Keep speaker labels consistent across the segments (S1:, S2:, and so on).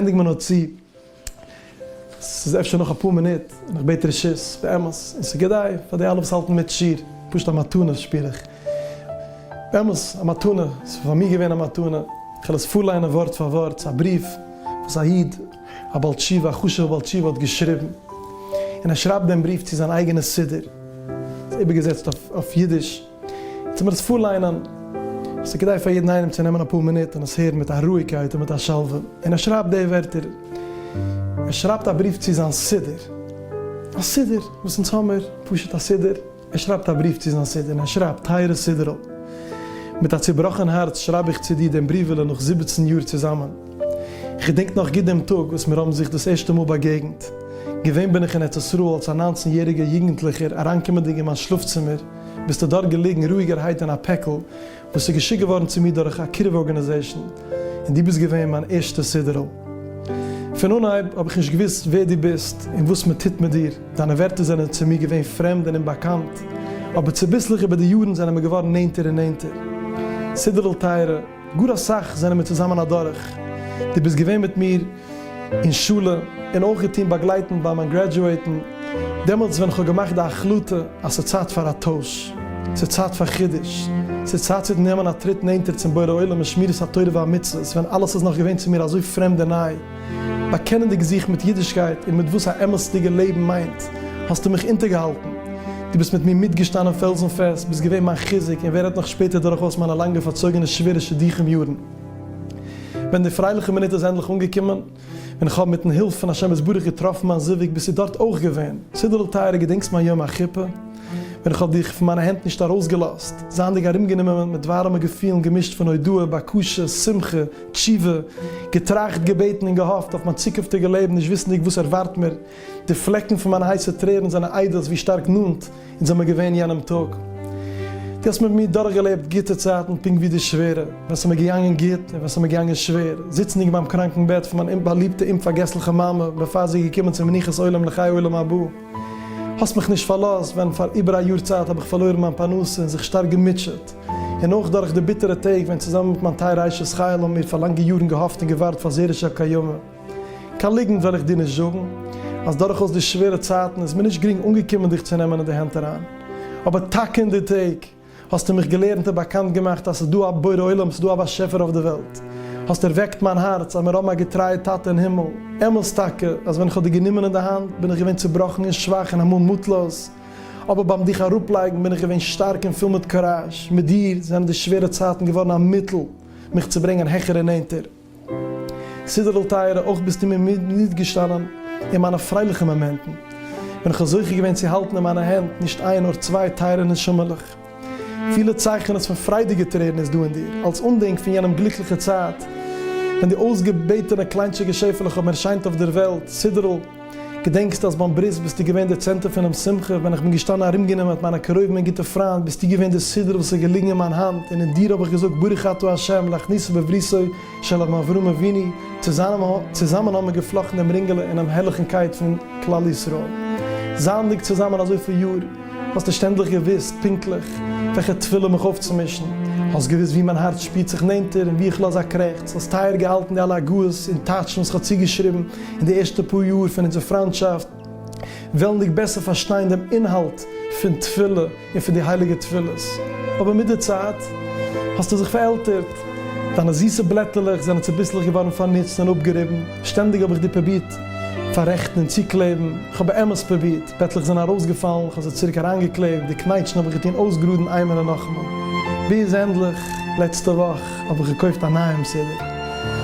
S1: ענדיג מיר נאר צו, ס'איז אפשר נאך אפאר מינוט, און איך בעט רשות, באמת, און ס'איז כדאי פאר די אלע וואס האלטן מיט שיעור, פשוט א מתנה שפיר איך, באמת א מתנה, ס'איז פאר מיר געווען א מתנה, כ'על עס פארליינען ווארט פאר ווארט, ס'איז א בריוו וואס א איד, א בעל תשובה, א חשוב'ע בעל תשובה האט געשריבן, און ער שרייבט דעם בריוו צו זיין אייגענע סידור, ס'איז איבערגעזעצט אויף אידיש. יעצט וועל איך עס פארליינען, עס איז כדאי פאר יעדן איינעם צו נעמען אפאר מינוט און עס הערן מיט א רואיגקייט און מיט א שלווה, און ער שרייבט די ווערטער, ער שרייבט א בריוו צו זיין סידור, א סידור וואס אונז האמיר, פשוט א סידור, ער שרייבט א בריוו צו זיין סידור און ער שרייבט, טייערע סידור'ל, מיט א צובראכן הארץ שרייב איך צו דיר דעם בריוועלע נאך זיבעצן יאר צוזאמען, איך געדענק נאך גוט דעם טאג וואס מיר האבן זיך דאס ערשטע מאל באגעגנט, געווען בין איך אין ארץ ישראל אלס א ניינצן יעריגער יוגנטליכער אריינקומענדיג אין מיין שלאף צימער, ביסטו דארט געליגן רואיגערהייט אין א פעקל וואס איז געשיקט געווארן צו מיר דורך א קירוב ארגאניזעישן, און דו ביסט געווען מיין ערשטע סידור'ל. פון אנהייב האב איך נישט געוואוסט ווער דו ביסט און וואס מען טוט מיט דיר, דיינע ווערטער זענען צו מיר געווען פרעמד און אומבאקאנט, אבער צוביסלעך איבער די יארן זענען מיר געווארן נענטער און נענטער. סידור'ל טייערע. גאר אסאך זענען מיר צוזאמען אדורך, דו ביסט געווען מיט מיר אין שולע, און אויך געטון באגלייטן ביי מיין גרעדזשועטן, דעמאלטס ווען כ'האב געמאכט די החלטה אז ס'איז צייט פאר א טויש, ס'איז צייט פאר חידוש, ס'איז צייט צו נעמען א טריט נענטער צום בורא עולם אין שמירת התורה והמצוות ווען אלעס איז נאך געווען צו מיר אזוי פרעמד און ניי. באקענענדיג זיך מיט אידישקייט און מיט וואס א אמת'דיגע לעבן מיינט, האסטו מיך אונטערגעהאלטן. דו ביסט מיט מיר מיטגעשטאנען פעלזן פעסט, ביסט געווען מיין חיזוק און ווער רעדט נאך שפעטער דורכאויס מיינע לאנגע פארצויגענע שווערע שידוכים יארן. ווען די פרייליכע מינוט איז ענדליך אנגעקומען, ווען איך האב מיט'ן הילף פון השם יתברך געטראפן מיין זיווג, ביסטו דארט אויך געווען. סידערל טייערע געדענקסט מיין יום החופה? ווען איך האב דיך פון מיינע הענט נישט ארויסגעלאזט, זייענדיג ארומגענומען מיט ווארעמע געפילן געמישט פון הודאה, בקשה, שמחה, תשובה, געטראכט, געבעטן און געהאפט אויף מיין צוקונפטיגע לעבן נישט וויסנדיג וואס ערווארט מיר. די פלעקן פון מיינע הייסע טרערן זענען עדות ווי שטארק נאנט אונז זעמיר געווען יענעם טאג. דו האסט מיט מיר דורכגעלעבט גוטע צייטן פונקט ווי די שווערע, ווען ס'מיר געגאנגען גוט און ווען ס'מיר געגאנגען שווער, זיצנדיג ביים קראנקן בעט פון מיין אומבאליבטע אומפארגעסליכע מאמע בעפאר זי איז געקומען צום מנוחת עולם לחיי עולם הבא. האסט מיך נישט פארלאזט ווען פאר איבער א יאר צייט האב איך פארלוירן מיין פרנסה און זיך שטארק געמוטשעט, און אויך דורך די ביטערע טעג ווען צוזאמען מיט מיין טייערע אשת חיל האבן מיר פאר לאנגע יארן געהאפט און געווארט פאר זרש'ע קיימא. קיין ליגנט וועל איך דיר נישט זאגן אז דורכאויס די שווערע צייטן איז מיר נישט גרינג אנגעקומען דיך צו נעמען אין די הענט אריין, אבער טאקע אין די טעג, האסטו מיך געלערנט און באקאנט געמאכט אז ס'איז דא א בורא עולם, ס'איז דא א באשעפער אויף די וועלט. האסט ערוועקט מיין הארץ אז מיר האבן א געטרייע טאטע אין הימל. אמת טאקע אז ווען איך האב דיר גענומען אין די האנט בין איך געווען צובראכן און שוואך און אמאל מוטלאז, אבער ביים דיך אראפלייגן בין איך געווען שטארק און פול מיט קוראזש. מיט דיר זענען די שווערע צייטן געווארן א מיטל מיך צו ברענגען העכער און נענטער. סידור'ל טייערע, אויך ביסטו מיר נאנט געשטאנען אין מיינע פרייליכע מאמענטן, ווען איך האב זוכה געווען צו האלטן אין מיינע הענט נישט איין נאר צוויי טייערע נשמה'לעך. פילע צייכענעס פון פריידיגע טרערן איז דא אין דיר, אלס אנדענק פון יענעם גליקליכע צייט, ווען די אויסגעבעטענע קליינטשיגע שעפעלעך האבן ערשיינט אויף דער וועלט, סידור'ל. געדענקסט אז ביים ברית ביסטו געווען דער צענטער פונעם שמחה, ווען איך בין געשטאנען ארומגענומען מיט מיינע קרובים און גוטע פריינט, ביסטו געווען דער סידור וואס איז געליגן אין מיין האנט, און אין דיר האב איך געזאגט ברוך אתה ה' להכניסו בבריתו של אבן אברהם אבינו, צוזאמען האבן מיר געפלאכטן דעם רינגעלע אינעם הערליכן קייט פון כלל ישראל. זייענדיג צוזאמען אזויפיל יאר, האסטו שטענדליך געוואוסט פונקטליך וועלכע תפילה מיך אויפצומישן, האסט געוואוסט וואו מיין הארץ שפירט זיך נענטער און וואו איך לאז א קרעכץ, האסט טייער געהאלטן די אלע הגהות און טייטשן וואס איך האב צוגעשריבן, אין די ערשטע פאר יאר פון אונזער פריינטשאפט, וועלנדיג בעסער פארשטיין דעם אינהאלט פון תפילה און פון די הייליגע תפילות, אבער מיט די צייט האסטו זיך פארעלטערט, דיינע זיסע בלעטעלעך זענען צוביסלעך געווארן פארנוצט און אפגעריבן, שטענדיג האב איך דיר פרובירט פאררעכטן און צוקלעבן, כ'האב באמת פרובירט, פעטלעך זענען ארויסגעפאלן, כ'האב זיי צוריק אריינגעקלעבט, די קנייטשן האב איך געטון אויסגראדן איינמאל און נאכאמאל, ביז ענדליך לעצטע וואך, האב איך געקויפט א נייעם סידי,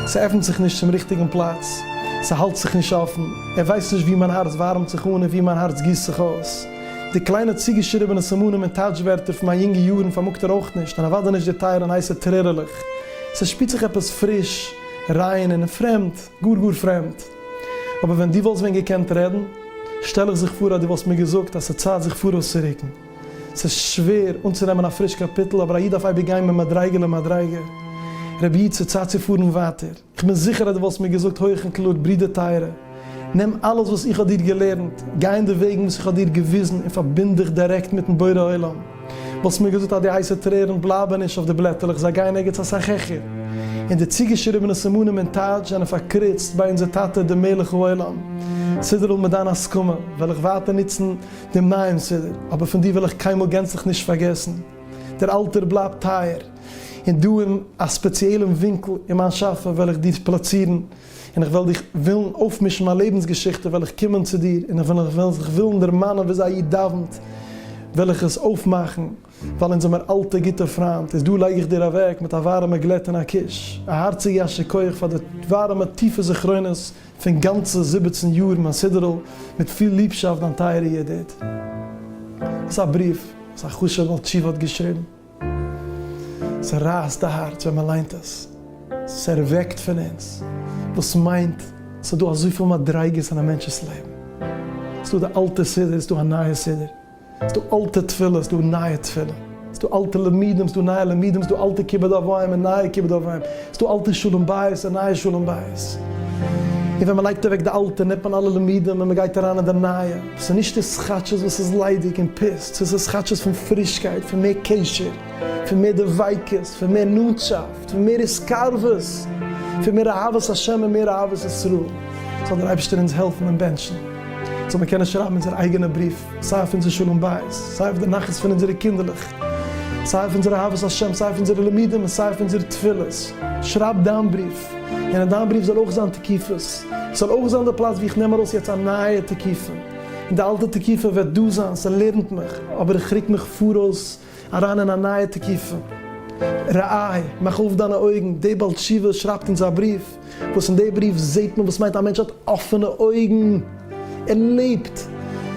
S1: ס'עפנט זיך נישט צום ריכטיגן פלאץ, ס'האלט זיך נישט אפן, ער ווייסט נישט ווי מיין הארץ ווארעמט זיך אן און ווי מיין הארץ גיסט זיך אויס. די קליינע צוגעשריבענע סימנים און טייטש ווערטער פון מיין יונגע יארן פארמאגט ער אויך נישט, און אוודאי נישט די טייערע און הייסע טרערעלעך. ס'שפירט זיך עפעס פריש, ריין און פרעמד, גאר גאר פרעמד. אבער ווען דו וואלסט ווען געקענט רעדן, שטעל איך זיך פאר אז דו וואלסט מיר געזאגט אז ס'צייט זיך פאראויס צו רוקן. ס'איז שווער אנצונעמען א פריש קאפיטל, אבער א איד דארף אייביג גיין ממדריגה למדריגה. רבי איד, ס'איז צייט צו פארן ווייטער. כ'בין זיכער אז דו וואלסט מיר געזאגט הויך און קלאר, ברודער טייערע, נעם אלעס וואס איך האב דיר געלערנט, גיי אין די וועגן וואס איך האב דיר געוויזן און פארבינד דיך דירעקט מיט'ן בורא עולם. וואלסט מיר געזאגט אז די הייסע טרערן בלייבן נישט אויף די בלעטעלעך, זיי גייען ערגעץ אסאך העכער. און די צוגעשריבענע סימנים און טייטש זענען פארקריצט ביי אונזער טאטע דעם מלך העולם. סידור'ל, מיט דיין הסכמה, וועל איך ווייטער נוצן די מעשה אבער פון דיר וועל איך קיינמאל גענצליך נישט פארגעסן. דער אלטער בלייבט טייער, און דא אין א ספעציעלן ווינקל אין מיין שאפע וועל איך דיר פלאצירן, און איך וועל דיך ווילן אויפמישן מיין לעבנס געשיכטע, וועל איך קומען צו דיר און ווען איך וועל זיך ווילן דערמאנען ווי אזוי א איד דאווענט וועל איך עס אויפמאכן, ווייל אונז זעמער אלטע גוטע פריינט, איז דא לייג איך דיר אוועק מיט א ווארעמע גלעט און א קוש, א הארציגע יישר כח פאר די ווארעמע טיפע זכרונות. פון גאנצע זיבעצן יאר מיין סידור'ל, מיט פיל ליבשאפט דיין טייערע ידיד. ס'איז א בריוו וואס א חשוב'ע בעל תשובה האט געשריבן. ס'רייסט די הארץ ווען מ'ליינט עס. ס'ערוועקט פון אונז. דאס מיינט ס'איז דא אזויפיל מדריגות אין א מענטש'ס לעבן. ס'איז דא די אלטע סידור, ס'איז דא א נייע סידור. ס'איז דא אלטע תפילות, ס'איז דא נייע תפילות, ס'איז דא אלטע למידים, ס'איז דא נייע למידים, ס'איז דא אלטע כיבוד אב ואם און נייע כיבוד אב ואם, ס'איז דא אלטע שלום בית און נייע שלום בית, און ווען מ'לייגט אוועק די אלטע נעמט מען אלע למידים און מ'גייט אריין אין די נייע, ס'איז נישט די סכאטשעס וואס איז ליידיג און פיסט, ס'איז די סכאטשעס פון פרישקייט, פון מער קשר, פון מער דביקות, פון מער נאנטשאפט, פון מער התקרבות, פון מער אהבת השם און מער אהבת ישראל, זאל דער אייבערשטער אונז העלפן און בענטשן, זאל מיר קענען שרייבן אונזער אייגענע בריוו. סיי אויף אונזער שלום בית, סיי אויף די נחת פון אונזערע קינדערלעך, סיי אויף אונזער אהבת השם, סיי אויף אונזערע לימודים און סיי אויף אונזערע תפילות. שרייב דיין בריוו, און אין דיין בריוו זאל אויך זיין תקיפות, עס זאל אויך זיין די פלאץ וואו איך נעם ארויס יעצט א נייע תקיפה, און די אלטע תקיפה וועט דא זיין, ס'לערנט מיך, אבער איך רוק מיך פאראויס, אריין אין א נייע תקופה. רעי, מאך אויף דיינע אויגן, דער בעל תשובה שרייבט אונז א בריוו, וואס אין דער בריוו זעט מען וואס מיינט א מענטש האט אפענע אויגן, ער לעבט,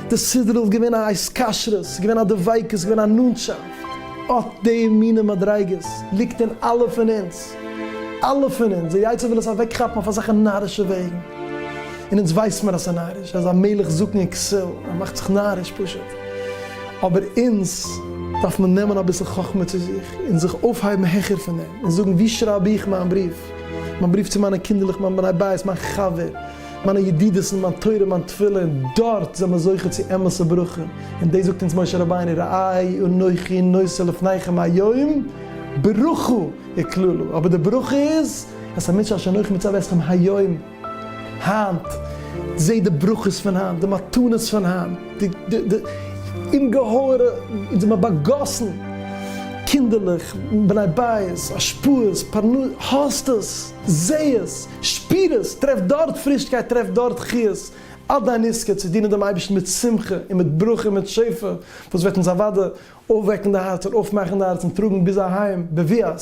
S1: די סדרה איז געווען א התקשרות, ס'איז געווען א דביקות, ס'איז געווען א נאנטשאפט, אט די מינע מדריגות ליגט אין אלע פון אונז, אלע פון אונז, דער יצר וויל עס אוועק כאפן אויף אזעלכע נארישע וועגן, און אונז ווייסט מיר אז ס'איז נאריש, ער איז א מלך זקן און כסיל, ער מאכט זיך נאריש פשוט. אבער אונז דארף מען נעמען אביסל חכמה צו זיך און זיך אויפהייבן העכער פון דעם און זאגן ווי שרייב איך מיין בריוו, מיין בריוו צו מיינע קינדערלעך, מיין בני בית, מיין חבר, מיינע ידידות'ן, מיין תורה, מיין תפילה, און דארט זעמער זוכה צו אמת'ע ברכה, און דאס זאגט אונז משה רבינו ראי' אנכי נושא לפניכם היום ברכה וקללה, אבער די ברכה איז אז עס איז א מצוה אשר אנכי מצוה אתכם היום. היינט, זע די ברכות פון היינט, די מתנות פון היינט, די אומגעהויערע, אונז זעמיר באגאסן, קינדערלעך, בני בית, השפעות, פרנסה, האסט עס, זע עס, שפיר עס, טרעף דארט פרישקייט, טרעף דארט חיות, אט דיין עסקן, צו דינען דעם אייבערשטן מיט שמחה און מיט ברכה און מיט שפע, וואס וועט אונז אוודאי אויפוועקן די הארץ און אויפמאכן די הארץ און טראגן ביז אהיים, בביאת